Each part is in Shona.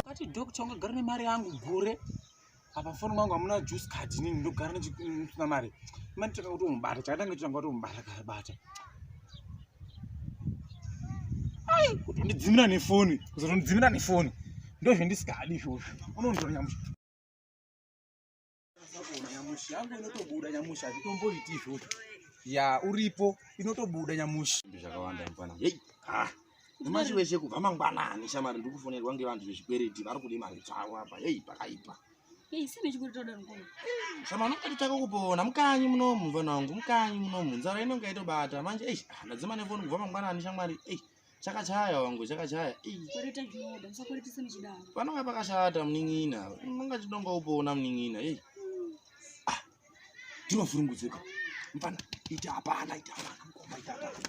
Kati doctor ungagara nemari yangu gure apa foni mangu hamuna juice card inini ndogara ndichisina mari mani tanga kutomubata chakatange chitanga kutomubata kabata ai kutondidzimira nefoni kuzotondidzimira nefoni ndozvendisikadi izvozvo unonditora nyamusha nyamusha yangu inotobuda nyamusha hazvitomboiti izvozvo ya uripo inotobuda nyamusha zvakawanda mfana hei ah Nyamashi wese kubva mangwanani shamari ndiri kufonerwa ngevanhu vezvikwereti vari kude mari dzavo apa heyi pakaipa. Heyi sine chikuritoda nkomo. Shamari unototaka kupona mukanyi munomu mvana wangu mukanyi munomu nzara inonga itobata manje eish ah, ndadzima nefoni kubva mangwanani shamwari eish chakachaya wangu chakachaya panonga pakashata munin'ina unonga chidonga upona munin'ina ei ah, ndinofuringudzika mfana ita hapana ita hapana mkomba ita hapana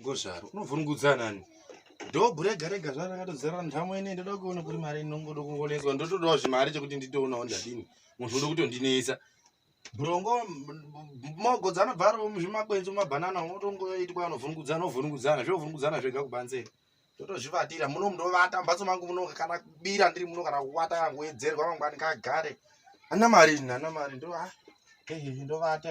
ngozvaro unovhurungudza nani dhobhu rega rega zvaro rakatodzara ndhamo ine ndoda kuona kuri mari inongoda kungoneswa ndotodawo zvimari chekuti nditoonawo ndadini munhu uda kutondinetsa brongo mogo dzanobva ari muzvimakwenzi mumabhanana unotongoitwa anovhurungudzana ovhurungudzana zveovhurungudzana zvega kubanze ndotozvivatira muno mundovata mumbatso mangu muno kana kubira ndiri muno kana kuvata kana kuwedzerwa mangwani kagare ana mari ana mari ndo ah, ndovata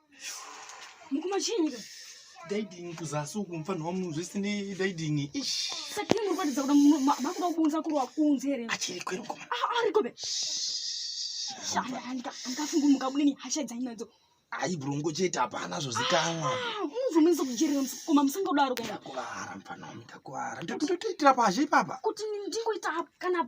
Mukuma chinga. Daiding kuzasi uku mfanha wamu zvese ne daiding. Ish. Sati muri kuratidza kuti makuda kubunza kuri wakunze here? Achiri kwero koma. Ah, ari kobe. Shanda anga angafunga mukabude ni hasha dzainadzo. Ayi brongo chete hapana zvozikanwa. Ah, Unozomisa kujerera koma musinga kudaro kana. Kuara mfanha wamu takuara. Ndikutoitira pazhe ipapa. Kuti ndingoita kana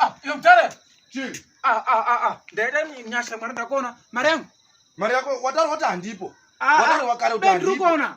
Ah, yo mtare. Chi. Ah, ah, ah, ah. Ndaida nyasha mwana ndakona. Mari yangu. mari yako wataura kuti handipo ah, ah, wataura wakare kuti handipoona